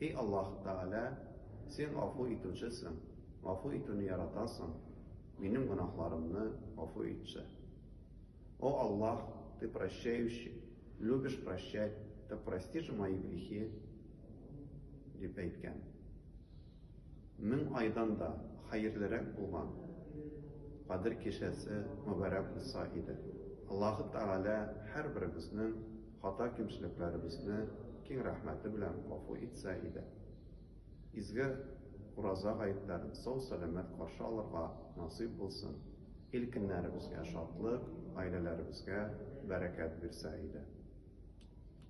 Һи Аллаһ Тәгалә, Син Гафу Итүчесең, гафу итүне яратасың, минем гөнаһларымны гафу итче. О Аллаһ, Ты Прощающий, любишь прощать, так прости же мои грехи, дип әйткән. Мең айдан да хәерлерәк булган Кадер кичәсе мөбарәк булса иде. Аллаһ Тәгалә һәрберебезнең Хата-кимчелекләребезне киң рәхмәте белән гафу итсә иде. Изге Ураза гаетләрен сау-сәламәт каршы алырга насыйп булсын, ил-кеннәребезгә шатлык, гаиләләребезгә бәрәкәт бирсә иде.